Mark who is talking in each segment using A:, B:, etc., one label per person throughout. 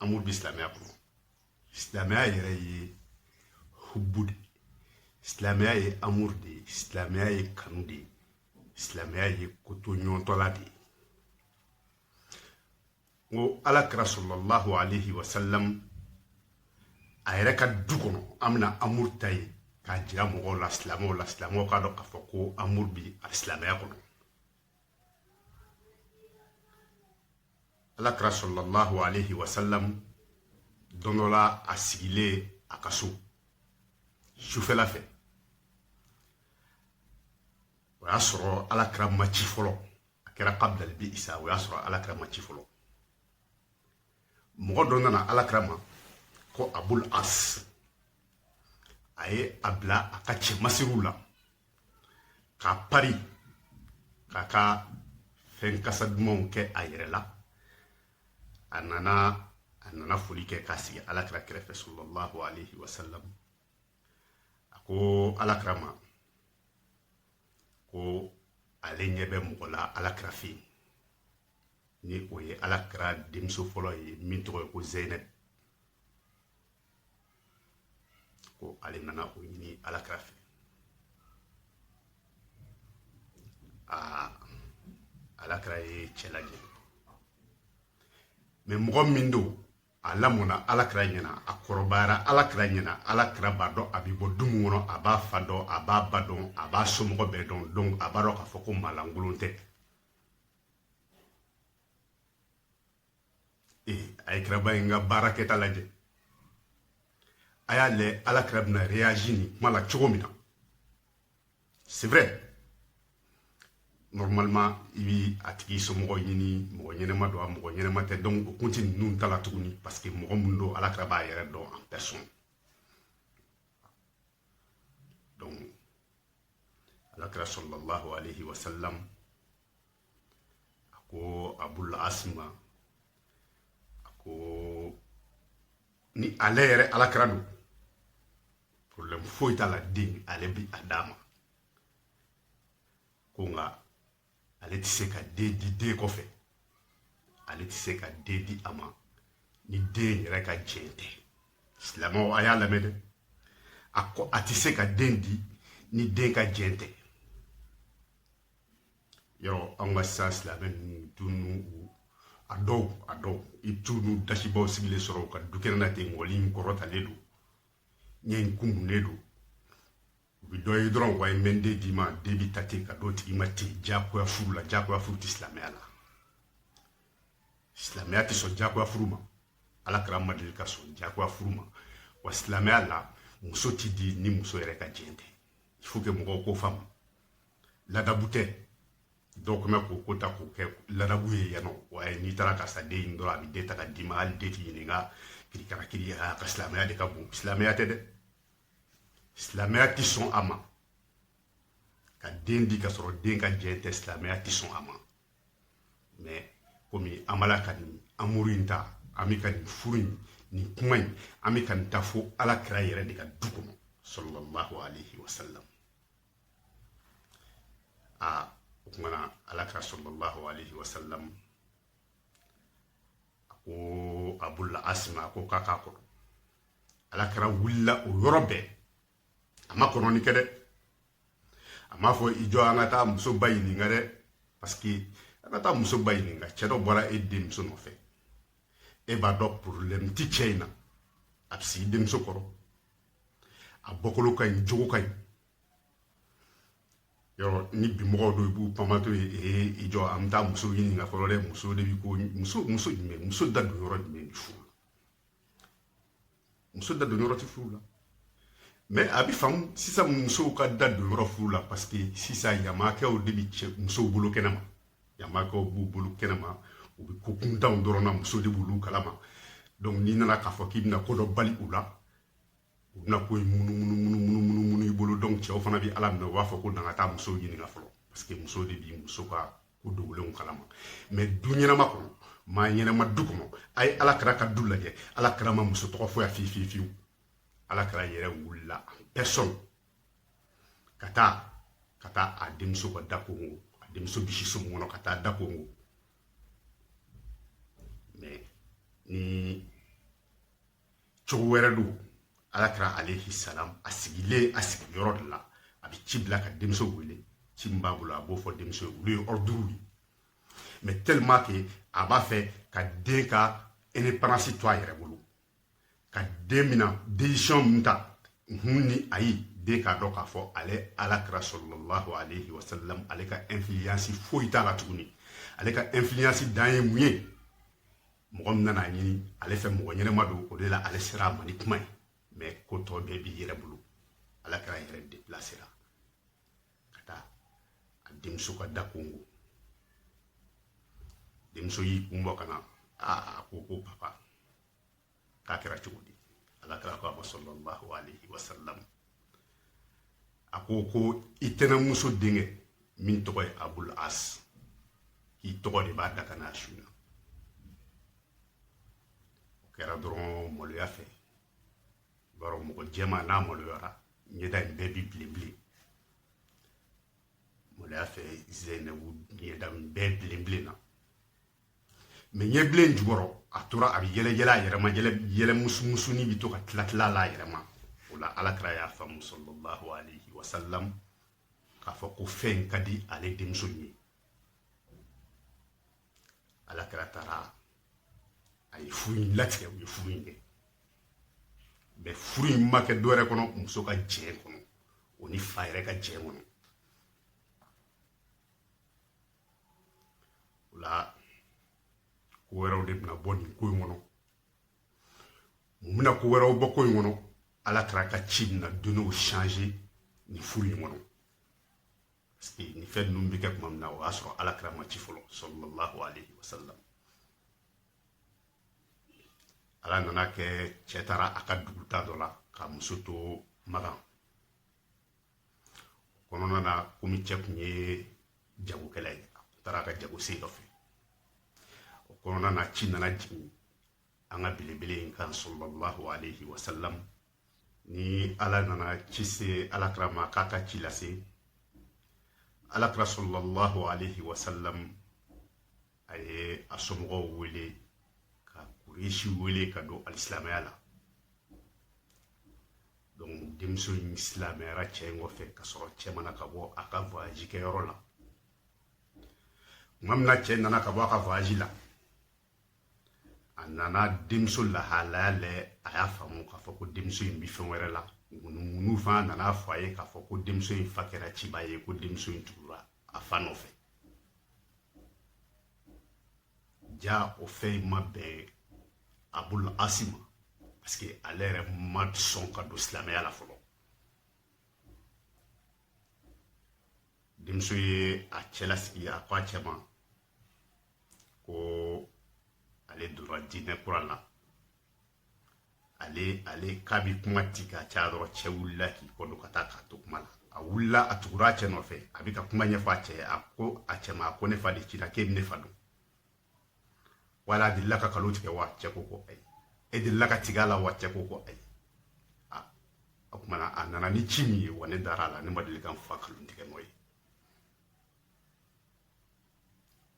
A: amuru bi silamɛya kɔnɔ silamɛya yɛrɛ ye hubu de silamɛya ye amuru de ye silamɛya ye kanu de ye silamɛya ye kotoɲɔgɔntala de ye n ko ala kira sallallahu alaihi wasallam a yɛrɛ ka du kɔnɔ an bɛna amuru ta ye k'a jira mɔgɔw la silamɛw la silamɛw k'a dɔn k'a fɔ ko amuru bi silamɛya kɔnɔ alakira sallallahu alayhi wa sallam don dɔ la a sigilen a ka so sufɛla fɛ o y'a sɔrɔ alakira ma ci fɔlɔ a kɛra kabilal biisa o y'a sɔrɔ alakira ma ci fɔlɔ mɔgɔ dɔ nana alakira ma ko abul as a ye a bila a ka cɛmasiriw la k'a pari k'a ka fɛn kasa dumanw kɛ a yɛrɛ la a nana foli kɛ k'a sigi alakira kɛrɛfɛ sallallahu alaihi wasalam a ko alakira ma ko ale ɲɛ bɛ mɔgɔ la alakira fɛ yen ni o ye alakira denmuso fɔlɔ ye min tɔgɔ ye ko zɛnɛb ko ale nana o ɲini ala kira fɛ aa ala kira ye cɛ lajɛ mais mɔgɔ min don a lamɔna ala kira ɲɛ na a kɔrɔbayara ala kira ɲɛ na ala kira b'a dɔn a bɛ bɔ du min kɔnɔ a b'a fa dɔn a b'a ba dɔn a b'a somɔgɔ bɛɛ dɔn donc a b'a dɔn k'a fɔ ko maalankolon tɛ ee a ye kiraba in ka baara kɛta lajɛ a y'a lɛ ala kira bɛna réagir nin kuma la cogo min na c'est vrai normalement i bi a tigi somɔgɔ ɲini mɔgɔ ɲɛnɛma don a mɔgɔ ɲɛnɛma tɛ donc o kun ti ninnu ta la tuguni parce que mɔgɔ min don ala kira b'a yɛrɛ dɔn en personne donc ala kira sallallahu alayhi wa sallam a ko abul as ma a ko ni ale yɛrɛ alakira don problème foyi t'a la den ale bi a d'a ma ko nka ale tɛ se ka den di den kɔfɛ ale tɛ se ka den di a ma ni den yɛrɛ ka jɛn tɛ silamɛw a y'a lamɛn dɛ a ko a tɛ se ka den di ni den ka jɛn tɛ yɔrɔ anw ka sisan silamɛ ninnu dun a dɔw a dɔw i t'olu dasibaw sigilen sɔrɔ u ka du kɛnɛ na ten mɔgɔli in kɔrɔtalen don ɲɛ in kumunen don u bɛ dɔ ye dɔrɔn u ko n bɛ n den d'i ma den bɛ ta ten ka d'o tigi ma ten diyagoya furu la diyagoya furu tɛ silamɛya la silamɛya tɛ sɔn diyagoya furu ma ala kira ma deli ka sɔn diyagoya furu ma wa silamɛya la muso tɛ di ni muso yɛrɛ ka jɛn tɛ il faut que mɔgɔw k'o faamu ladabu tɛ dɔw kun bɛ k'o ko ta k'o kɛ ladabu ye yan nɔ wa n'i taara karisa den ɲini dɔrɔn a bɛ den ta ka d'i ma hali den ti ɲininka kirikara kiri a ka silamɛya de ka bon silamɛya tɛ dɛ silamɛya ti sɔn a ma ka den di ka sɔrɔ den ka jɛn tɛ silamɛya ti sɔn a ma mais komi an b'a la ka nin amuru in ta an bɛ ka nin furu in nin kuma in an bɛ ka nin ta fo ala kira yɛrɛ de ka du kɔnɔ sallallahu alaihi wasallam a o kumana ala kira sallallahu alaihi wasallam a ko abul asi ma a ko k'a k'a kɔnɔ ala kira wulila o yɔrɔ bɛɛ a ma kɔnɔni kɛ dɛ a m'a fɔ i jɔ an ka taa muso ba ɲininka dɛ parce que an ka taa muso ba ɲininka cɛ dɔ bɔra e denmuso nɔfɛ e b'a dɔn problème ti cɛ in na a bɛ se i denmuso kɔrɔ a bɔkolo ka ɲi jogo ka ɲi yɔrɔ ni bi mɔgɔw don i b'u pamato ye ee i jɔ an bɛ taa muso ɲininka fɔlɔ dɛ muso de bi ko muso muso jumɛn muso da don yɔrɔ jumɛn bi furu la muso da don yɔrɔ ti furu la mais a bɛ faamu sisan musow ka da don yɔrɔ furu la parce que sisan yamakɛw de bi cɛ musow bolo kɛnɛ ma yamakɛw b'u bolo kɛnɛ ma u bɛ ko kuntanw dɔrɔn na muso de b'olu kalama donc n'i nana k'a fɔ k'i bɛna ko dɔ bali u la u bɛna ko in munumunu i bolo donc cɛw fana bɛ a laminɛ u b'a fɔ ko an ka taa musow ɲininka fɔlɔ parce que muso de bi muso ka ko dogolenw kalama mais du ɲɛnama kɔnɔ maa ɲɛnama du kɔnɔ a ye ala kira ka du lajɛ ala kira ma muso tɔgɔ fɔ yan fiye fiye fiyewu ala kira yɛrɛ wulila en personne ka taa ka taa a denmuso ka da konkon a denmuso bi si so min kɔnɔ ka taa da konkon mais ni cogo wɛrɛ don ala kira alayhi salam a sigilen a sigi yɔrɔ de la a bɛ ci bila ka denmuso wele ci min b'a bolo a b'o fɔ denmuso ye olu ye ordre ye mais tellement que a b'a fɛ ka den ka indépendance to a yɛrɛ bolo ka den mana décision min ta hun ni ayi den k'a dɔn k'a fɔ ale ala kira sallallahu alayhi wa sallam ale ka influence foyi t'a la tuguni ale ka influence dan ye mun ye mɔgɔ min nana ɲini ale fɛ mɔgɔ ɲɛnɛma don o de la ale sera a ma ni kuma ye mais ko tɔ bɛɛ b'i yɛrɛ bolo ala kira yɛrɛ depilasera ka taa a denmuso ka da konkon denmuso y'i kun bɔ ka na a ko ko papa k'a kɛra cogo di ala kira ko a ma sallallahu alaihi wasalam a ko ko i tɛnɛmuso denkɛ min tɔgɔ ye abul as k'i tɔgɔ de b'a da ka na su in na o kɛra dɔrɔn maloya fɛ i b'a dɔn mɔgɔ jɛman n'a maloyara ɲɛda in bɛɛ bi bilenbilen maloya fɛ zɛnɛbu ɲɛda in bɛɛ bilenbilenna mais ɲɛbilen jukɔrɔ a tora a bɛ yɛlɛyɛlɛ a yɛrɛ ma yɛlɛ musumusuni bɛ to ka tila tila la a yɛrɛ ma o la ala kira y'a faamu sallallahu alayhi wa sallam k'a fɔ ko fɛn ka di ale denmuso in ye ala kira taara a ye furu in latigɛ u ye furu in kɛ mais furu in ma kɛ dɔwɛrɛ kɔnɔ muso ka jɛn kɔnɔ o ni fa yɛrɛ ka jɛn kɔnɔ o la ko wɛrɛw de bɛna bɔ nin ko in kɔnɔ mun bɛna ko wɛrɛw bɔ ko in kɔnɔ ala kira ka ci bɛna donnéew changer nin furu in kɔnɔ parce que nin fɛn ninnu bɛ kɛ tuma min na o y'a sɔrɔ ala kira ma ci fɔlɔ sallallahu alayhi wa sallam ala nana kɛ cɛ taara a ka duguta dɔ la ka muso to makan kɔnɔna na komi cɛ kun ye jagokɛla ye a taara a ka jago sen dɔ fɛ o kɔnɔna na ci nana jigin an ka belebele in kan sallallahu alayhi wa sallam ni ala nana ci se alakira ma k'a ka ci lase alakira sallallahu alayhi wa sallam a ye a somɔgɔw wele ka kuresi wele ka don alisilamɛya la donc denmuso in silamɛyara cɛ in kɔfɛ ka sɔrɔ cɛ ma na ka bɔ a ka voyage kɛyɔrɔ la tuma min na cɛ nana ka bɔ a ka voyage la a nana denmuso lahalaya lajɛ a y'a faamu k'a fɔ ko denmuso in bɛ fɛn wɛrɛ la ŋunuŋunu fana nana fɔ a ye k'a fɔ ko denmuso in fa kɛra ciba ye ko denmuso in tugura a fa nɔfɛ ja o fɛn in ma bɛn abul asi ma parce que ale yɛrɛ ma sɔn ka don silamɛya la fɔlɔ denmuso ye a cɛ lasigi a ko a cɛ ma ko ale donna diinɛ kura la ale ale k'a bɛ kuma ti ka caya dɔrɔn cɛ wulila k'i kɔ don ka taa k'a to kuma la a wulila a tugura a cɛ nɔfɛ a bɛ ka kuma ɲɛfɔ a cɛ ye a ko a cɛ ma a ko ne fa de cira k'e bɛ ne fa dɔn wala a delila ka kalon tigɛ wa cɛ ko ko ayi e delila ka tigɛ a la wa cɛ ko ko ayi o tuma na a nana ni ci min ye wa ne dara a la ne ma deli ka n fa kalon tigɛ nɔ ye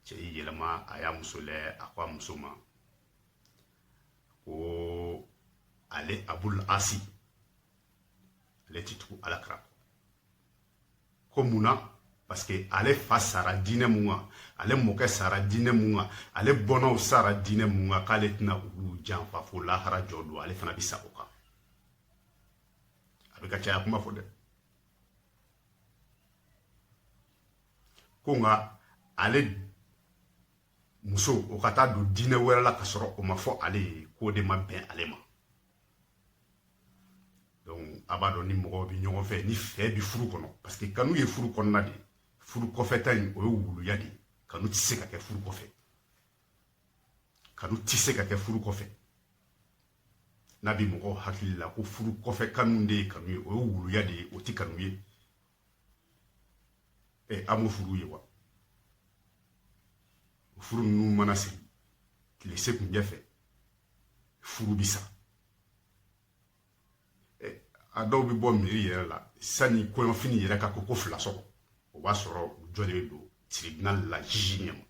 A: cɛ y'i yɛlɛma a y'a muso lɛ a ko a muso ma ko ale abul asi ale ti tugu ala kira kɔ ko mun na parce que ale fa sara diinɛ mun kan ale mɔkɛ sara diinɛ mun kan ale bɔnnaw sara diinɛ mun kan k'ale tɛna olu janfa fo lahara jɔ don ale fana bɛ sa o kan a bɛ ka cɛya kuma fɔ dɛ ko nka ale muso o ka taa don diinɛ wɛrɛ la ka sɔrɔ o ma fɔ ale ye k'o de ma bɛn ale ma donc a b'a dɔn ni mɔgɔw bɛ ɲɔgɔn fɛ ni fɛ bɛ furu kɔnɔ parce que kanu ye furu kɔnɔna de ye furu kɔfɛ ta in o ye wuluya de ye kanu tɛ se ka kɛ furu kɔfɛ kanu tɛ se ka kɛ furu kɔfɛ n'a bɛ mɔgɔw hakili la ko furu kɔfɛ kanu de ye kanu ye o ye wuluya de ye o tɛ kanu ye ɛ an m'o furu ye wa o furu ninnu mana siri tile se kuncɛ fɛ furu bɛ sa ɛ a dɔw bɛ bɔ mɛri yɛrɛ la sani kɔɲɔfini yɛrɛ ka ko ko fila sɔrɔ o b'a sɔrɔ u jɔlen don tiribinali la jiji ɲɛma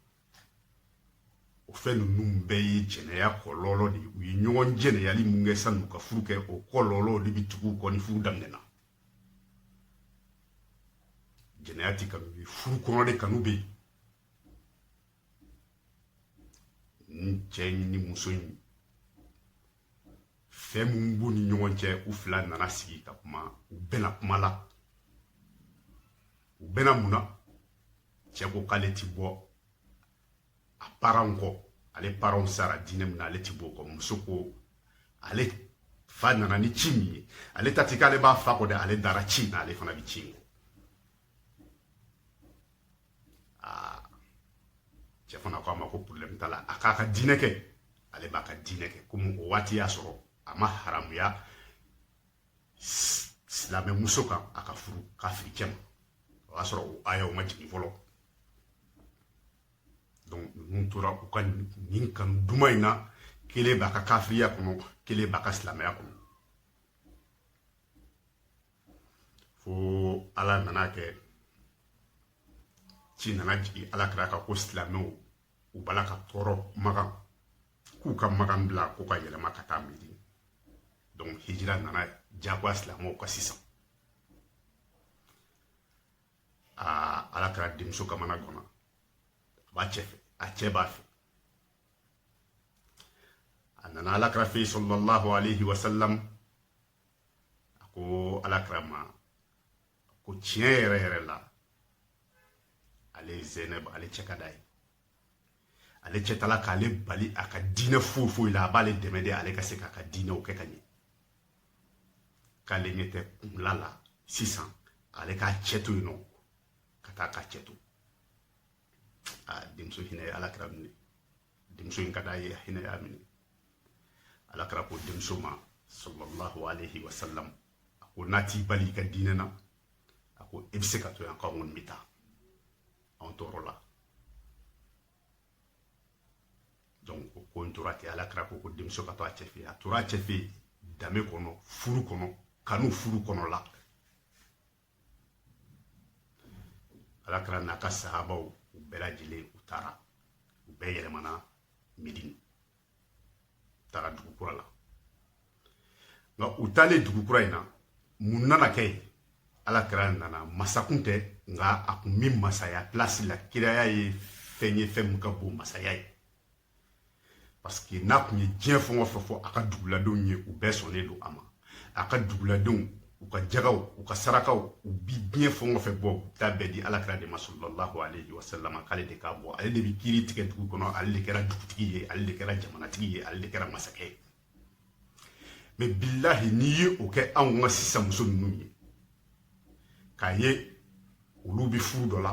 A: o fɛn ninnu bɛɛ ye jɛnɛya kɔlɔlɔ de ye u ye ɲɔgɔn jɛnɛyali mun kɛ san'u ka furu kɛ o kɔlɔlɔ de bɛ tugu u kɔ ni furu daminɛna jɛnɛya ti kanu ye furu kɔnɔ de kanu bɛ yen ni cɛ in ni muso in fɛn mun b'u ni ɲɔgɔn cɛ u fila nana sigi ka kuma u bɛnna kuma la u bɛnna mun na cɛ ko k'ale ti bɔ a paranw kɔ ale paranw sara diinɛ min na ale ti bɔ o kɔ muso ko ale fa nana ni ci min ye ale ta ti k'ale b'a fa kɔ dɛ ale dara ci in na ale fana bi ci in kɔ ah, cɛ fana ko a ma ko problème t'a la a k'a ka diinɛ kɛ ale b'a ka diinɛ kɛ komi o waati y'a sɔrɔ a ma haramuya silamɛ muso kan a ka furu kafiri cɛ ma o y'a sɔrɔ o ayaw ma jigin fɔlɔ donc ninnu tora u ka nin kanu duman in na kelen b'a ka kafiriya kɔnɔ kelen b'a ka silamɛya kɔnɔ fo ala nana kɛ ci nana jigin ala kira kan ko silamɛw u b'a la ka tɔɔrɔ makan k'u ka makan bila k'u ka yɛlɛma ka taa midini donc hijira nana jagoya silamɛw kan sisan aa ala kira denmuso kamana gɔnna a b'a cɛ fɛ a cɛ b'a fɛ a nana ala kira fɛ sallallahu alaihi wasallam a ko ala kira ma ko tiɲɛ yɛrɛ yɛrɛ la ale zɛnɛb ale cɛ ka d'a ye ale cɛ tala k'ale bali a ka diinɛ foyi foyi la a b'ale dɛmɛ de ale ka se k'a ka diinɛw kɛ ka ɲɛ k'ale ɲɛ tɛ kunla la sisan ale k'a cɛ to yen nɔ ka taa k'a cɛ to aa denmuso hinɛ ye ala kira minɛ denmuso in ka d'a ye hinɛ y'a minɛ ala kira ko denmuso ma sallallahu alaihi wa sallam a ko n'a t'i bali i ka diinɛ na a ko i bɛ se ka to yan k'anw kɔni bɛ taa anw tɔɔrɔ la donc o ko in tora ten ala kira ko ko denmuso ka to a cɛ fɛ a tora a cɛ fɛ danbe kɔnɔ furu kɔnɔ kanu furu kɔnɔ la ala kira n'a ka sahabaw u bɛɛ lajɛlen u taara u bɛɛ yɛlɛmana midini taara dugu kura la nka u taalen dugu kura in na mun nana kɛ yen ala kira nana masa kun tɛ nka a kun bi masaya pilasi la kiraya ye fɛn ye fɛn min ka bon masaya ye paseke n'a kun ye diɲɛ fɛn o fɛn fɔ a ka duguladenw ye u bɛɛ sɔnnen don a ma a ka duguladenw u ka jagaw u ka sarakaw u bi diɲɛ fɛn o fɛn bɔ u t'a bɛɛ di ala kira de ma sallallahu alayhi wa sallam k'ale de k'a bɔ ale de bɛ kiri tigɛ dugu kɔnɔ ale de kɛra dugutigi ye ale de kɛra jamanatigi ye ale de kɛra masakɛ ye mɛ bilahi n'i ye o kɛ anw ka sisan muso ninnu ye k'a ye olu bɛ furu dɔ la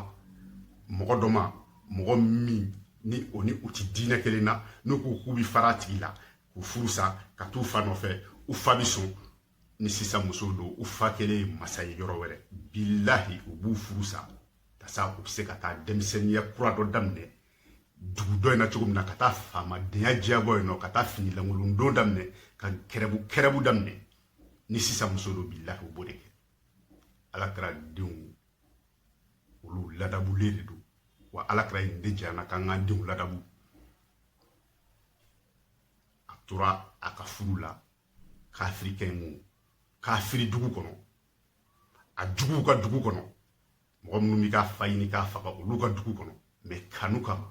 A: mɔgɔ dɔ ma mɔgɔ min ni o ni u ti diinɛ kelen na n'u ko k'u bɛ fara a tigi la k'u furu sa ka t'u fa nɔfɛ u fa bɛ sɔn ni sisan musow don u fa kɛlen ye masa ye yɔrɔ wɛrɛ bilahi u b'u furu sa jaasa u bɛ se ka taa denmisɛnninya kura dɔ daminɛ dugu dɔ in na cogo min na ka taa faamadenya diyabɔ yen nɔ ka taa finilankolon don daminɛ ka kɛrɛbu kɛrɛbu daminɛ ni sisan muso don bilahi u b'o de kɛ ala kira denw olu ladabulen de don wa ala kira ye nin de jira k'an ka denw ladabu a tora a ka furu la kafirikɛ in kun kafiri dugu kɔnɔ a juguw ka dugu kɔnɔ mɔgɔ minnu bɛ k'a fa ɲini k'a faga olu ka dugu kɔnɔ mɛ kanu kama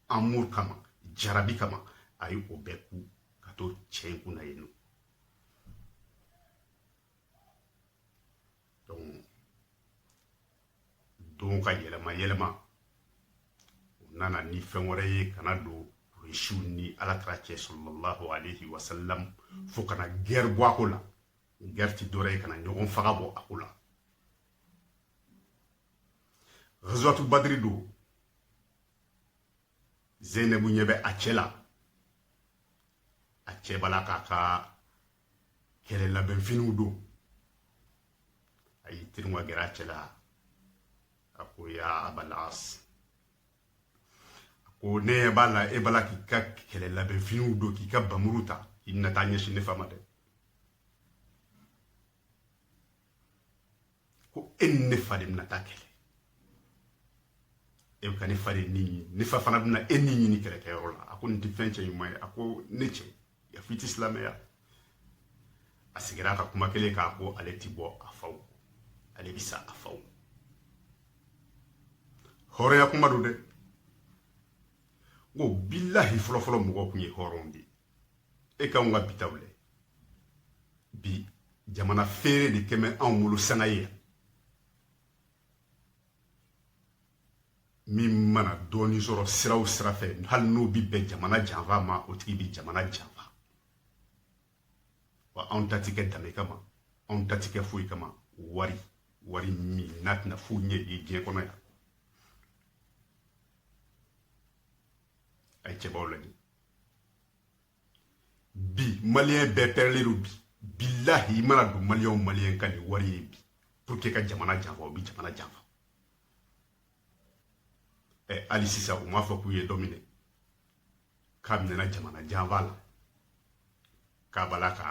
A: amour kama jarabi kama a ye o bɛɛ kun ka to cɛ in kun na yen nɔ don ka yɛlɛma yɛlɛma u nana ni fɛn wɛrɛ ye ka na don kuresiw ni ala kira cɛ salalahu alehi wasalam fo ka na guerre bɔ a ko la guerre ti dɔwɛrɛ ye ka na ɲɔgɔn faga bɔ a ko la ghazwatu badiri don zeinabu ɲɛ bɛ a cɛ la a cɛ b'a la k'a ka kɛlɛ labɛnfiniw don a y'i tiriwa gɛrɛ a cɛ la a ko ya abalas a ko ne ɲɛ b'a la e b'a la k'i ka kɛlɛ labɛnfiniw don k'i ka bamuru ta i na taa ɲɛsin ne fa ma dɛ ko e ni ne fa de bɛna taa kɛlɛ e bɛ ka ne fa de ni ɲini ne fa fana bɛna e ni ɲini kɛlɛkɛyɔrɔ la a ko nin tɛ fɛn cɛ ɲuman ye a ko ne cɛ yafa i tɛ silamɛya a sigira ka kuma kelen kan ko ale ti bɔ a faw ale bɛ sa a faw hɔrɔnya kuma don dɛ n ko bilahi fɔlɔfɔlɔ mɔgɔ tun ye hɔrɔnw de ye e k'anw ka bitaw lɛ bi jamana feere de kɛmɛ anw bolo sanga ye min mana dɔɔnin sɔrɔ sira o sira fɛ hali n'o bi bɛn jamana janfa ma o tigi bi jamana janfa wa anw ta ti kɛ danbe kama anw ta ti kɛ foyi kama wari wari min n'a tɛna foyi ɲɛ ye diɲɛ kɔnɔ yan a ye cɛbaw lajɛ bi maliyɛn bɛɛ pɛrɛlen don bi bilahi i mana don maliyɛn o maliyɛn kan ni wari ye bi pour que ka jamana janfa o bi jamana janfa ɛ eh, hali sisan u m'a fɔ k'u ye dɔ minɛ k'a minɛna jamana janfa la k'a b'a la ka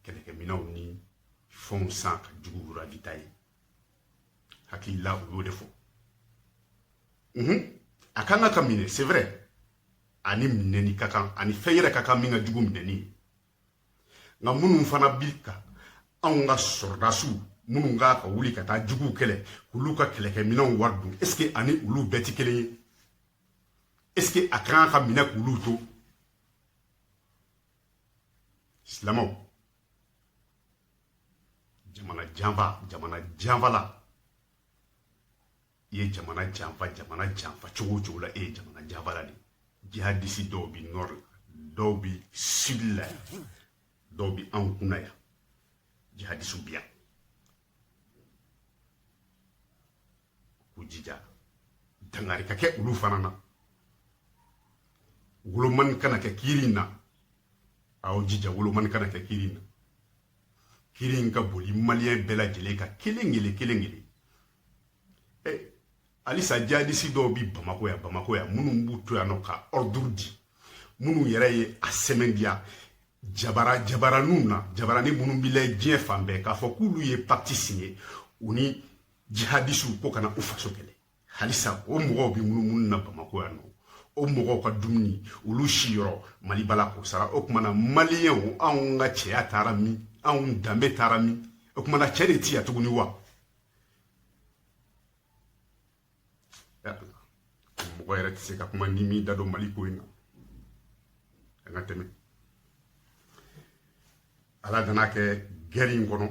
A: kɛlɛkɛminɛnw ni fɛnw san ka juguw ravitailler hakili la u y'o de fɔ a ka kan ka minɛ c'est vrai a ni minɛni ka kan a ni fɛn yɛrɛ ka kan min ka jugu minɛni ye nka minnu fana bi ka anw ka sɔrɔdasiw minnu ka kan ka wuli ka taa juguw kɛlɛ k'olu ka kɛlɛkɛminɛnw wari dun est ce que a ni olu bɛɛ ti kelen ye est ce que a ka kan ka minɛ k'olu to silamɛw jamana janfa jamana janfa la i ye jamana janfa jamana janfa cogo o cogo la e ye jamana janfa la de jihadisi dɔw bi nord la dɔw bi sud la yan dɔw bi anw kunna yan jihadisiw bi yan k'u jija dangari ka kɛ olu fana na wolomani kana kɛ kiri in na aw jija wolomani kana kɛ kiri in na kiri in ka boli maliyɛn bɛɛ lajɛlen ka kelen kelen kelen kelen ɛ eh, halisa jihadisi dɔw bi bamakɔ yan bamakɔ yan minnu b'u to yan nɔ ka ɔriduru di minnu yɛrɛ ye a sɛmɛntiya jabara jabaraninw na jabaranin minnu bi lɛ diɲɛ fan bɛɛ k'a fɔ k'olu ye pacte signé u ni jihadisiw ko kana u faso kɛlɛ halisa o mɔgɔw bɛ munumunu na bamako yan nɔ o mɔgɔw ka dumuni olu siyɔrɔ mali b'a la k'o sara o kuma na maliyɛnw anw ka cɛya taara min anw danbe taara min o kuma na cɛ de ti yan tuguni wa mɔgɔ yɛrɛ tɛ se ka kuma ni min da don mali ko in na an ka tɛmɛ ala nana kɛ gɛri in kɔnɔ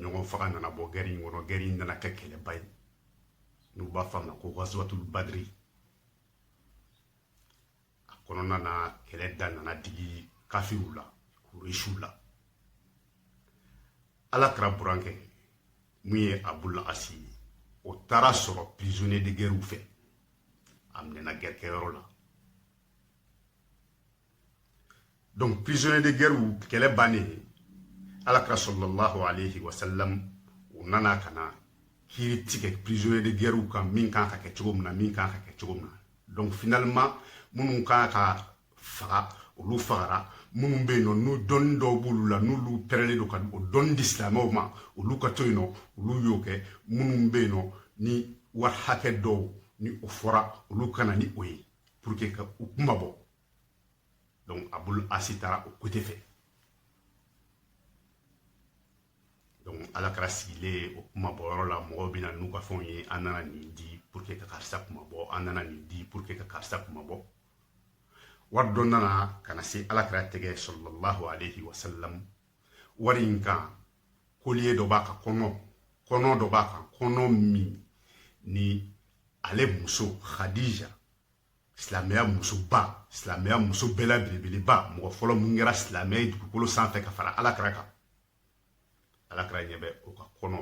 A: ɲɔgɔn faga nana bɔ gɛri in kɔnɔ gɛri in nana kɛ kɛlɛba ye n'u b'a f'a ma ko ghazwatul badri a kɔnɔna na kɛlɛ da nana digi kafiriw la kuresiw la ala kira burankɛ min ye abul asi ye o taara sɔrɔ prisonnier de guerrew fɛ a minɛna gɛrikɛyɔrɔ la donc prisonnier de guerrew kɛlɛ bannen ala kira sallallahu alayhi wa sallam u nana ka na kiri tigɛ prisonnier de guerrew kan min kan ka kɛ cogo min na min kan ka kɛ cogo min na donc finalement minnu kan ka faga olu fagara minnu bɛ yen nɔ n'u dɔnni dɔw b'olu la n'olu pɛrɛlen don ka o dɔnni di silamɛw ma olu ka to yen nɔ olu y'o kɛ minnu bɛ yen nɔ ni wari hakɛ dɔw ni o fɔra olu ka na ni o ye pour que ka u kunmabɔ donc abul asi taara o côté fɛ donc ala kira sigilen ye o kunmabɔyɔrɔ la mɔgɔw bɛ na n'u ka fɛnw ye an nana nin di pour que ka karisa kunmabɔ an nana nin di pour que ka karisa kunmabɔ wari dɔ nana ka na se ala kira tɛgɛ sallallahu alayhi wa sallam wari in kan koliye dɔ b'a kan kɔnɔ kɔnɔ dɔ b'a kan kɔnɔ min ni ale muso khadija silamɛya musoba silamɛya muso bɛɛ la belebeleba mɔgɔ fɔlɔ min kɛra silamɛya ye dugukolo sanfɛ ka fara ala kira kan ala kira ɲɛ bɛ o ka kɔnɔ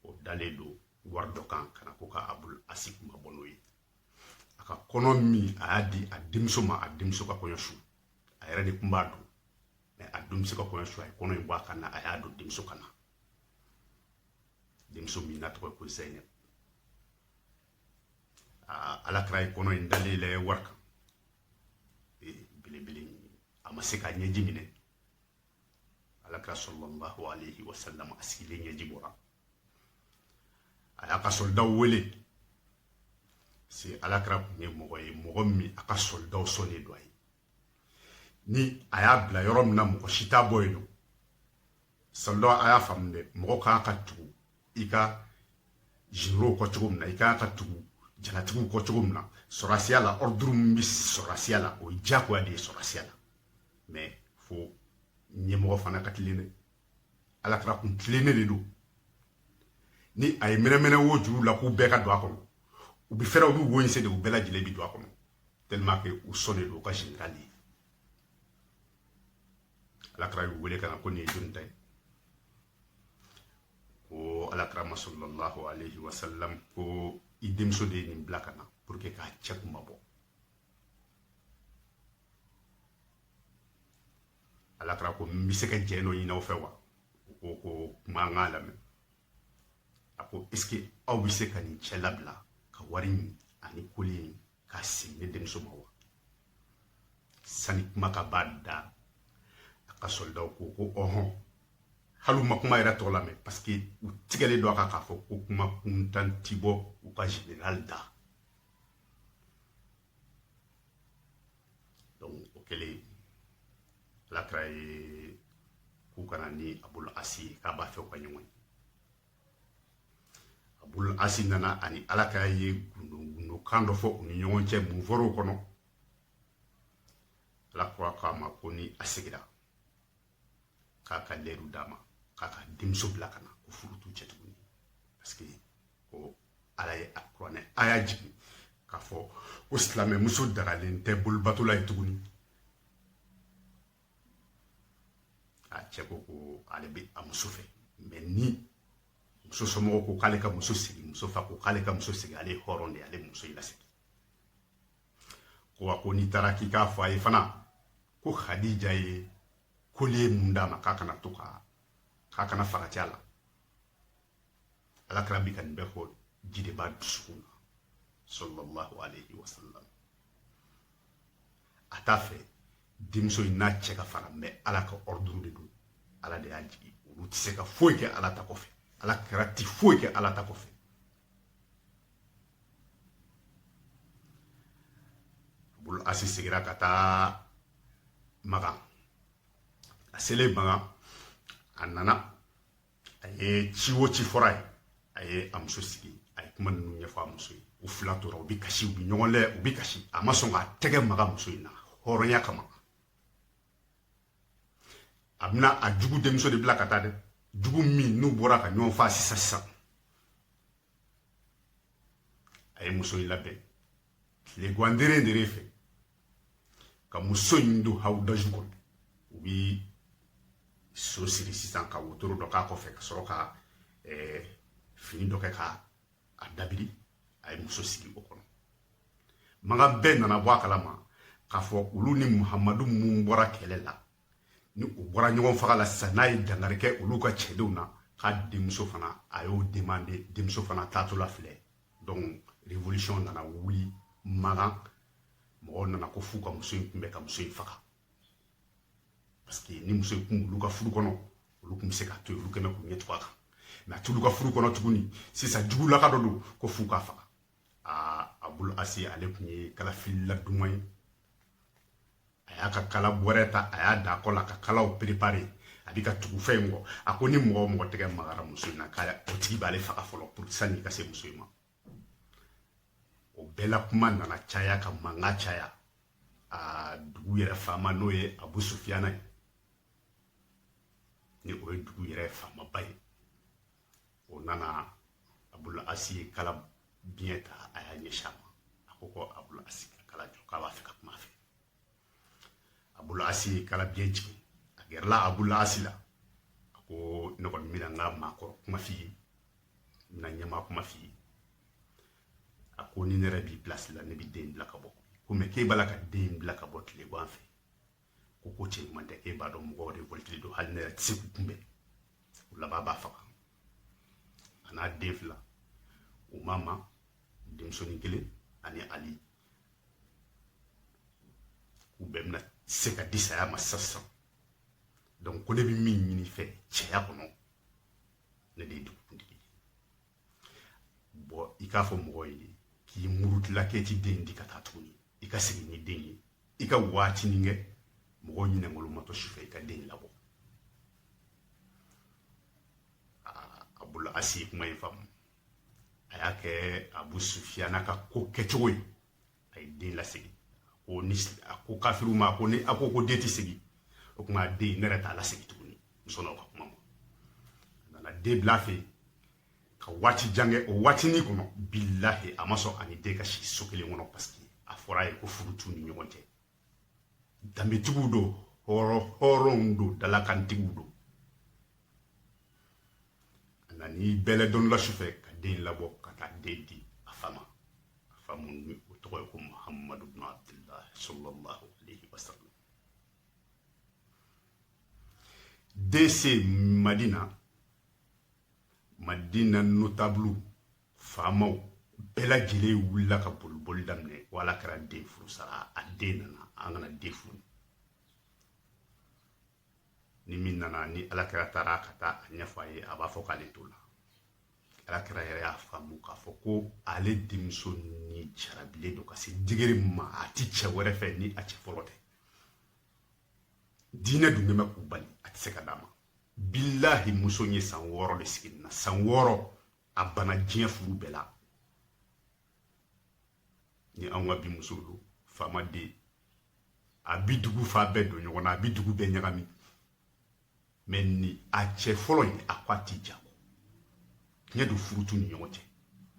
A: o dalen don wari dɔ kan ka na ko ka abul asi kunmabɔ n'o ye a ka kɔnɔ min a y'a di a denmuso ma a denmuso ka kɔɲɔ su a yɛrɛ de kun b'a don mais a denmuso ka kɔɲɔ su a ye kɔnɔ in bɔ a kan na a y'a don denmuso kan na denmuso min na tɔgɔ ye ko zɛnabu ala kira ye kɔnɔ in dalen lajɛ wari kan belebele a ma se ka ɲɛji minɛ alakira sallallahu alayhi wa sallam a sigilen ɲɛji bɔra a y'a ka sɔlidaw wele se alakira kun ye mɔgɔ ye mɔgɔ min a ka sɔlidaw sɔnnen don a ye ni a y'a bila yɔrɔ min na mɔgɔ si t'a bɔ yen nɔ sɔlidaw a y'a faamu dɛ mɔgɔ kan ka tugu i ka generaux kɔ cogo min na i kan ka tugu jalatigiw kɔ cogo min na sɔrasiya la ɔriduru min bɛ sɔrasiya la o ye diyagoya de ye sɔrasiya la mɛ fo ɲɛmɔgɔ fana ka tilen dɛ ala kira kun tilennen de don ni a ye mɛnɛmɛnɛ wo jir'u la k'u bɛɛ ka don a kɔnɔ u bɛ fɛɛrɛ u bɛ wo in sen de u bɛɛ lajɛlen bɛ don a kɔnɔ tellement que u sɔnnen don u ka general ye ala kira y'u wele ka na ko nin ye jɔni ta ye ko ala kira ma sallallahu alayhi wa sallam ko i denmuso de ye nin bila ka na pour que k'a cɛ kunmabɔ ala kira ko n bɛ se ka jɛ dɔ ɲini aw fɛ wa u ko ko kuma an k'a lamɛn a ko esike aw bɛ se ka nin cɛ labila ka wari nin ani koliye in k'a segin ne denmuso ma wa sani kuma ka b'a da a ka sɔlidaw ko ko ɔhɔn hali u ma kuma yɛrɛ tɔ lamɛn paseke u tigɛlen don a kan k'a fɔ ko kuma kuntan ti bɔ u ka general da o kɛlen ala kira ye k'u ka na ni abul asi ye k'a b'a fɛ u ka ɲɔgɔn ye abul asi nana ani ala kira ye gundokan dɔ fɔ u ni ɲɔgɔn cɛ mun fɔr'o kɔnɔ ala kira k'a ma ko ni a segira k'a ka layidu d'a ma k'a ka denmuso bila ka na ko furu t'u cɛ tuguni parce que ko ala ye alikuranɛ aya jigin k'a fɔ ko silamɛmuso dagalen tɛ bolibatola ye tuguni a cɛ ko ko ale bɛ a muso fɛ mɛ ni muso somɔgɔw ko k'ale ka muso segin muso fa ko k'ale ka muso segin ale ye hɔrɔn de ye ale muso in lasegin ko wa ko n'i taara k'i k'a fɔ a ye fana ko hadija ye koliye min d'a ma k'a kana to ka k'a kana farati a la ala kira bɛ ka nin bɛɛ fɔ ji de b'a dusukun na sallallahu alayhi wa sallam a t'a fɛ denmuso in n'a cɛ ka fara mɛ ala ka ɔriduru de don ala de y'a jigin olu tɛ se ka foyi kɛ ala ta kɔfɛ ala kira tɛ foyi kɛ ala ta kɔfɛ abul asi segira ka taa makan a selen makan a nana a ye ci o ci fɔra ye a ye a muso sigi a ye kuma ninnu ɲɛfɔ a muso ye u fila tora u bɛ kasi u bɛ ɲɔgɔn lɛ u bɛ kasi a ma sɔn k'a tɛgɛ maga muso in na hɔrɔnya kama a bɛna a jugu denmuso de bila ka taa dɛ jugu min n'u bɔra ka ɲɔgɔn fa sisan sisan a ye muso in labɛn tile gandere de fɛ ka muso in don hawudaju kɔnɔ u bi so siri sisan ka wotoro dɔ k'a kɔfɛ ka sɔrɔ ka eh, fini dɔ kɛ ka a dabiri a ye muso sigi o kɔnɔ makan bɛɛ nana bɔ a kalama k'a fɔ olu ni muhamadu minnu bɔra kɛlɛ la ni u bɔra ɲɔgɔn faga la sisan n'a ye dankari kɛ olu ka cɛdenw na k'a denmuso fana a y'o demande denmuso fana taatɔla filɛ donc révolution nana wuli makan mɔgɔw nana ko f'u ka muso in kunbɛn ka muso in faga parce que ni muso in kun olu ka furu kɔnɔ olu kun bɛ se k'a to yen olu kun bɛ k'u ɲɛ tugu a kan mais a t'olu ka furu kɔnɔ tuguni sisan jugulaka dɔ don ko f'u k'a faga aa abul asi ale kun ye kalafilila duman ye a y'a ka kala bɔrɛ ta a y'a da a kɔ la ka kalaw préparer a bɛ ka tugu fɛn in kɔ a ko ni mɔgɔ o mɔgɔ tɛgɛ magara muso in na ko o tigi b'ale faga fɔlɔ pour sanni ka se muso in ma o bɛɛ la kuma nana caya ka mankan caya a dugu yɛrɛ faama n'o ye abu sufiyana ye ni o ye dugu yɛrɛ faamaba ye o nana abul asi ye kala biɲɛ ta a y'a ɲɛsin a ma a ko ko abul asi ka kala jɔ k'a b'a fɛ ka kuma a fɛ abul asi ye kala biɲɛ jigin a gɛrɛla abul asi la a ko ne kɔni bɛna n ka maakɔrɔ kuma f'i ye n bɛna ɲɛmaa kuma f'i ye a ko ni ne yɛrɛ b'i place la ne bɛ den bila ka bɔ ko mais k'e b'a la ka den bila ka bɔ tile gan fɛ ko ko cɛ ɲuman tɛ k'e b'a dɔn mɔgɔw révoltélen don hali ne yɛrɛ tɛ se k'u kunbɛn o laban b'a faga a n'a den fila umama denmusonin kelen ani ali u bɛɛ bɛna se ka di saya ma sisan donc ko ne bɛ min ɲini i fɛ cɛya kɔnɔ ne de ye dugukuntigi bon i k'a fɔ mɔgɔ ye k'i murutila k'e ti den di ka taa tuguni i ka segin ni den ye i ka waatinin kɛ mɔgɔw ɲinɛnkolo matɔ sufɛ i ka den labɔ abul asi ye kuma in faamu a y'a kɛ abu sufiyana ka ko kɛcogo ye a ye den lasegin ko ni a ko kafiriw ma ko ni a ko ko den tɛ segin o tuma den ne yɛrɛ t'a lasegin tuguni n sɔnna aw ka kuma ma a nana den bila a fɛ yen ka waati jan kɛ o waatinin kɔnɔ bilahi a ma sɔn ani den ka si so kelen kɔnɔ parce que a fɔra a ye ko furu t'u ni ɲɔgɔn cɛ danbetigiw don hɔrɔn hɔrɔnw don dalakantigiw don a nan'i bɛlɛ dɔnnila su fɛ ka den labɔ ka taa den di a fa ma a fa mun ni o tɔgɔ ye ko muhamadu bnu abdullah sallallahu alaihi wasallam den se madina madina notabulu faamaw bɛɛ lajɛlen wulila ka boliboli daminɛ ko ala kira den furu sara a den nana an ka na den furu ni min nana ni ala kira taara ka taa a ɲɛfɔ a ye a b'a fɔ k'ale t'o la ala kira yɛrɛ y'a faamu k'a fɔ ko ale denmuso ni jarabilen don ka se degré ma a ti cɛ wɛrɛ fɛ ni a cɛ fɔlɔ tɛ diinɛ dun bɛ k'u bali a tɛ se ka d'a ma bilahi muso ye san wɔɔrɔ de sigi na san wɔɔrɔ a bana diɲɛ furu bɛɛ la ni anw ka bi muso don faama den a bi dugu fan bɛɛ don ɲɔgɔn na a bi dugu bɛɛ ɲagami mais ni a cɛ fɔlɔ in a ko a ti ja tiɲɛ don furu t'u ni ɲɔgɔn cɛ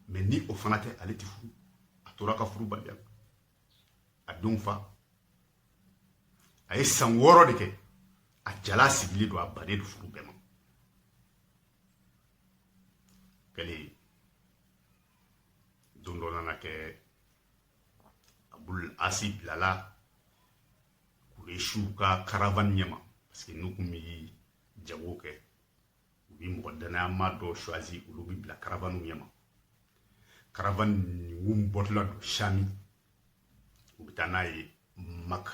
A: mais ni o fana tɛ ale ti furu a tora ka furubaliya a denw fa a ye san wɔɔrɔ de kɛ a jalan sigilen don a bannen don furu bɛɛ ma kɛlen don dɔ nana kɛ abul asi bilala kuresiw ka karavani ɲɛma parce que n'u kun bi jago kɛ u bi mɔgɔ dannayama dɔ choisi olu bi bila karavaniw ɲɛma karavani nin bɔtɔla don shami u bɛ taa n'a ye maka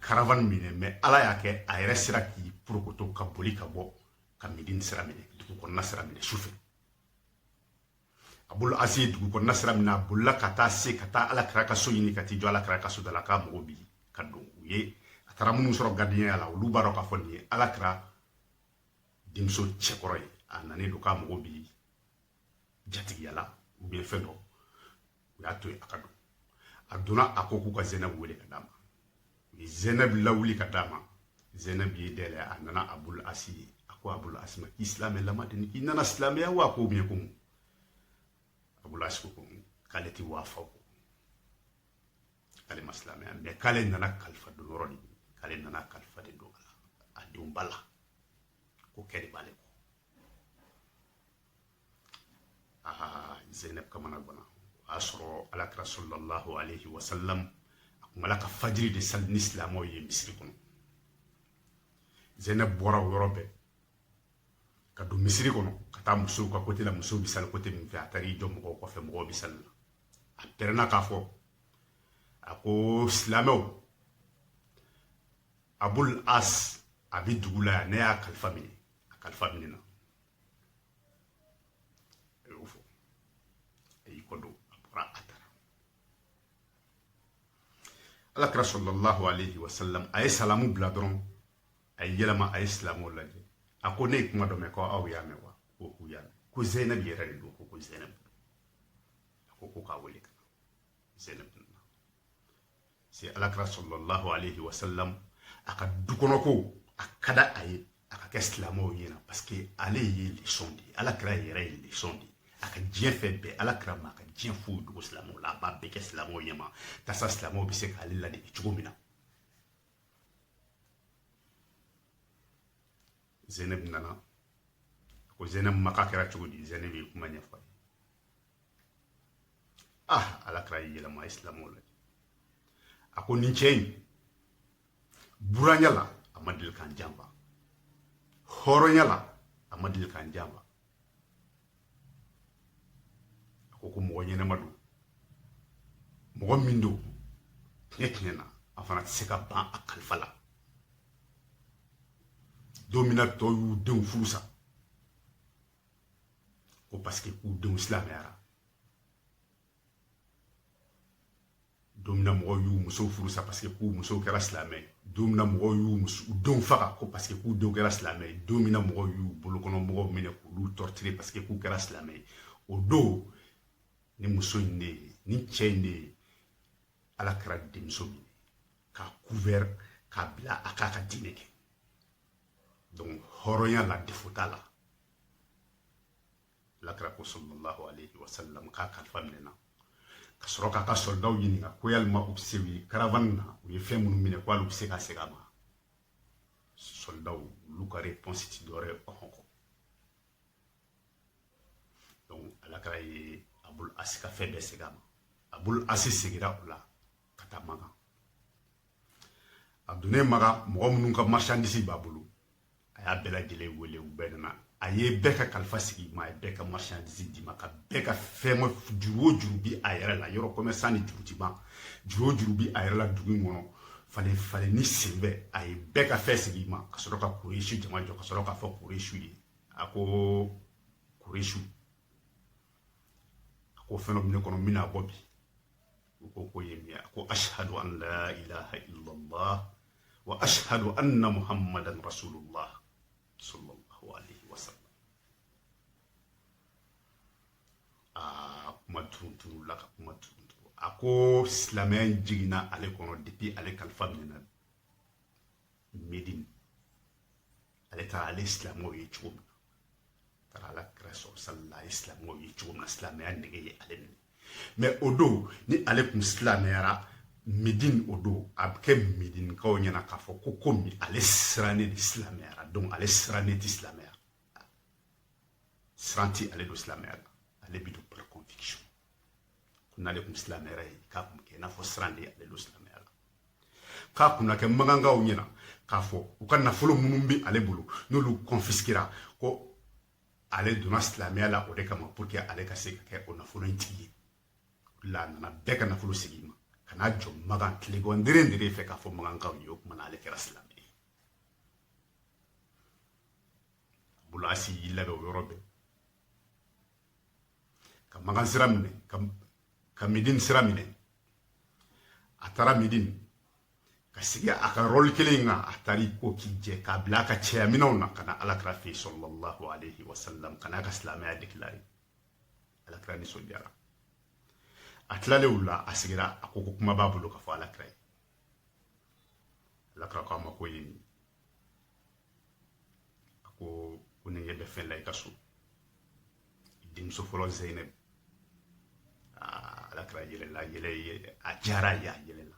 A: caravane minɛ mais ala y'a kɛ a yɛrɛ sera k'i porokoto ka boli ka bɔ ka medine sira minɛ dugu kɔnɔna sira minɛ sufɛ abul asi ye dugu kɔnɔna sira minɛ a bolila ka taa se ka taa ala kira ka so ɲini ka t'i jɔ ala kira ka so da la k'a mago bi ka don u ye a taara minnu sɔrɔ gadenya la olu b'a dɔn k'a fɔ nin ye ala kira denmuso cɛkɔrɔ ye a nanen don k'a mago bi jatigiya la ou bien fɛn dɔ u y'a to yen a ka don a donna a ko k'u ka zɛnɛb wele ka d'a ma u ye zɛnɛb lawuli ka d'a ma zɛnɛb ye da yɛlɛ a nana abul asi ye a ko abul asi ma k'i silamɛlama de ni k'i nana silamɛya wa ko ou bien ko mun abul asi ko k'ale ti wuya fɔ k'ale ma silamɛya mais k'ale nana kalifa don yɔrɔ de k'ale nana kalifa de don a denw ba la ko kɛlɛ b'ale kɔ aa zɛnɛb kamana ganna o y'a sɔrɔ alakira sallallahu alayhi wa sallam a tun b'a la ka fajiri de sali ni silamɛw ye misiri kɔnɔ zɛnɛb bɔra o yɔrɔ bɛɛ ka don misiri kɔnɔ ka taa musow ka kote la musow bɛ sali kote min fɛ a taara i jɔ mɔgɔw kɔfɛ mɔgɔw bɛ sali la a pɛrɛnna k'a fɔ a ko silamɛw abul as a bɛ dugu la yan ne y'a kalifa minɛ a kalifa minɛna alakira sallallahu alayhi wa sallam a ye salamu bila dɔrɔn a y'i yɛlɛma a ye silamɛw lajɛ a ko ne ye kuma dɔ mɛn ko aw y'a mɛn wa ko k'u y'a mɛn ko zɛnɛbi yɛrɛ de don ko ko zɛnɛbi a ko ko k'a wele ka na zɛnɛbi nana se alakira sallallahu alayhi wa sallam a ka dukɔnɔko a ka di a ye a ka kɛ silamɛw ɲɛna paseke ale ye lesɔn de ye alakira yɛrɛ ye lesɔn de ye a ka diɲɛ fɛn bɛɛ alakira ma a ka diɲɛ foyi dogo silamɛw la a b'a bɛɛ kɛ silamɛw ɲɛma jaasa silamɛw bɛ se k'ale ladege cogo min na zenɛb nana ko zenɛb ma k'a kɛra cogo di zenɛb ye kuma ɲɛfɔ a ye ah alakira y'i yɛlɛma silamɛw la a ko nin cɛ in buranya la a ma deli k'an janfa hɔrɔnya la a ma deli k'an janfa a ko ko mɔgɔ ɲɛnama don mɔgɔ min don tiɲɛ tiɲɛ na a fana tɛ se ka ban a kalifa la don min na tɔw y'u denw furu sa ko paseke k'u denw silamɛyara don min na mɔgɔw y'u musow furu sa paseke k'u musow kɛra silamɛ ye don min na mɔgɔw y'u denw faga ko paseke k'u denw kɛra silamɛ ye don min na mɔgɔw y'u bolokɔnɔmɔgɔw minɛ k'olu tɔrɔtire paseke k'u kɛra silamɛ ye o don nin muso in de ye nin cɛ in de ye alakira denmuso minɛ k'a kuvɛri k'a bila a k'a ka diinɛ kɛ donc hɔrɔnya la defo t'a la alakira ko sallallahu alayhi wa sallam k'a kalifa minɛna ka sɔrɔ k'a ka sɔrɔdaw ɲininka ko yalima u bɛ se u ye karavani na u ye fɛn minnu minɛ ko yali u bɛ se k'a segin a ma sɔrɔdaw olu ka réponse ti dɔwɛrɛ ye ɔhɔn kɔ donc alakira ye abul asi ka fɛn bɛɛ segin a ma abul asi segira o la ka taa makan a donnen makan mɔgɔ minnu ka marchandise b'a bolo a y'a bɛɛ lajɛlen wele u bɛɛ nana a ye bɛɛ ka kalifa segin ma a ye bɛɛ ka marchandise di ma ka bɛɛ ka fɛn ma juru o juru bi a yɛrɛ la yɔrɔ commerçant ni juru ti ban juru o juru bi a yɛrɛ la dugu in kɔnɔ falen falen ni sen bɛɛ a ye bɛɛ ka fɛn segin ma ka sɔrɔ ka kureshi jama jɔ ka sɔrɔ k'a fɔ kureshi ye a ko kureshi a ko fɛn dɔ bɛ ne kɔnɔ n bɛna bɔ bi u ko k'o ye mun ye a ko ashadu an la ilaha illallah wa ashadu anna muhammadan rasulullah sallallahu alaihi wa sallam aa kuma turuturu la ka kuma turuturu a ko silamɛya in jiginna ale kɔnɔ depuis ale kalifa minɛna medini ale taara ale silamɛw ye cogo min na taara alakira sɔrɔ sallallahu alayhi silamɛw ye cogo min na silamɛya nege ye ale minɛ mais o don ni ale kun silamɛyara midini o don a bɛ kɛ midinikaw ɲɛna k'a fɔ ko komi ale sirannen de silamɛyara donc ale sirannen tɛ silamɛya siran ti ale don silamɛya la ale bi don par conviction ko n'ale kun silamɛyara yen k'a kun kɛ i n'a fɔ siran de ale don silamɛya la k'a kun na kɛ magankaw ɲɛna k'a fɔ u ka nafolo minnu bɛ ale bolo n'olu confisquera ko ale donna silamɛya la o de kama pour que ale ka se ka kɛ o nafolo in tigi ye la a nana bɛɛ ka nafolo segin ma ka n'a jɔ magan tilegan dere dere fɛ k'a fɔ magankaw ye o kuma na ale kɛra silamɛ abul asi y'i labɛn o yɔrɔ bɛɛ ka magan sira minɛ ka midini sira minɛ a taara midini ka sigi a ka rɔli kelen kan a taara i ko k'i jɛ k'a bila a ka cɛya minɛnw na ka na alakira fɛ yen sallallahu alayhi wa sallam ka n'a ka silamɛya déclarer alakira nisɔndiyara a tilalen o la a sigira a ko ko kuma b'a bolo ka fɔ alakira ye alakira ko a ma k'o ye mun a ko ko ne ɲɛ bɛ fɛn la i ka so denmuso fɔlɔ zeynɛb alakira yɛlɛla yɛlɛ ye a diyara a ye a yɛlɛla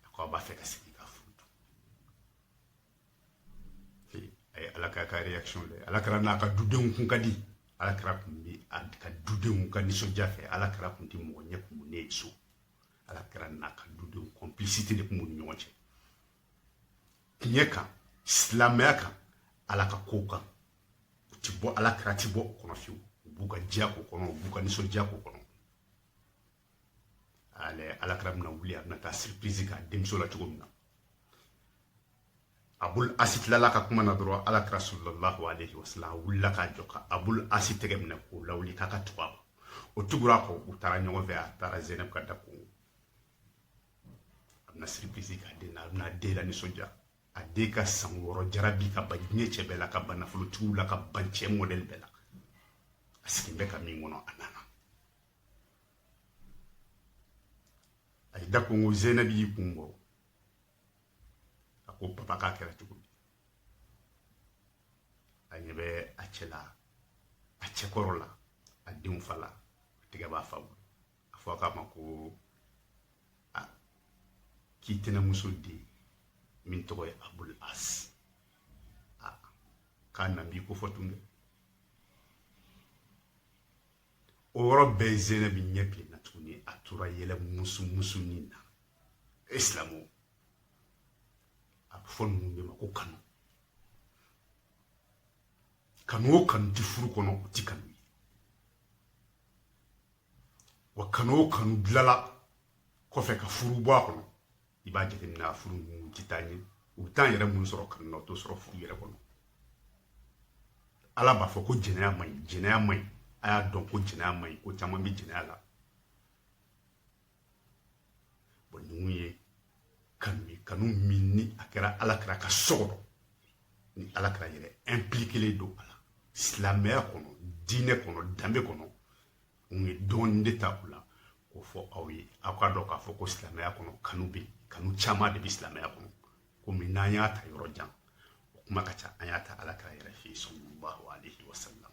A: a ko a b'a fɛ ka segin ka furu dun a ye alakira ka réaction lajɛ alakira n'a ka dudenw kun ka di alakira kun bɛ a ka dudenw ka nisɔndiya fɛ alakira kun tɛ mɔgɔ ɲɛ kumunen ye so alakira n'a ka dudenw complicité de kun b'u ni ɲɔgɔn cɛ tiɲɛ kan silamɛya kan ala ka kow kan u ti bɔ alakira ti bɔ o kɔnɔ fiyewu u b'u ka diya k'o kɔnɔ u b'u ka nisɔndiya k'o kɔnɔ alakira bɛna wuli a bɛna taa surprise k'a denmuso la cogo min na abul asi tilala ka kuma na dɔrɔn ala kira sallallahu alayhi wa sallam a wulila k'a jɔ ka abul asi tɛgɛ minɛ k'o lawuli k'a ka tugu a kɔ o tugura a kɔ u taara ɲɔgɔn fɛ a taara zɛnɛb ka da ko a bɛna surprise k'a den na a bɛna a den lanisɔndiya a den ka san wɔɔrɔ jarabi ka ban diɲɛ cɛ bɛɛ la ka ban nafolotigiw la ka ban cɛ mɔdɛli bɛɛ la a sigin bɛ ka min kɔnɔ a nana a ye da konkon zɛnɛb y'i kun bɔ a ko papa k'a kɛra cogo di a ɲɛ bɛ a cɛ la a cɛ kɔrɔ la a denw fa la a tɛgɛ b'a fa bolo a fa k'a ma ko a k'i tɛnɛmuso den min tɔgɔ ye abul as a k'a nan b'i ko fɔ tun dɛ o yɔrɔ bɛɛ zɛnɛb ɲɛ bilenna tuguni a tora yɛlɛ musumusunin na e silamɛw a bɛ fɔ ninnu de ma ko kanu kanu o kanu tɛ furu kɔnɔ o tɛ kanu ye wa kanu o kanu dilala kɔfɛ ka furu bɔ a kɔnɔ i b'a jateminɛ a furu ninnu tɛ taa ɲɛ u bɛ taa yɛrɛ minnu sɔrɔ kanu na o t'o sɔrɔ furu yɛrɛ kɔnɔ ala b'a fɔ ko jɛnɛya man ɲi jɛnɛya man ɲi a y'a dɔn ko jɛnɛya man ɲi ko caman bɛ jɛnɛya la bɔn ninnu ye kanu ye kanu min ni a kɛra ala kira ka so kɔnɔ ni ala kira yɛrɛ ɛnpilikelen don a la silamɛya kɔnɔ diinɛ kɔnɔ danbe kɔnɔ n ye dɔɔnin de ta o la k'o fɔ aw ye aw k'a dɔn k'a fɔ ko silamɛya kɔnɔ kanu bɛ kanu caman de bɛ silamɛya kɔnɔ komi n'an y'a ta yɔrɔ jan o kuma ka ca an y'a ta ala kira yɛrɛ fɛ yen sallallahu alayhi wa sallam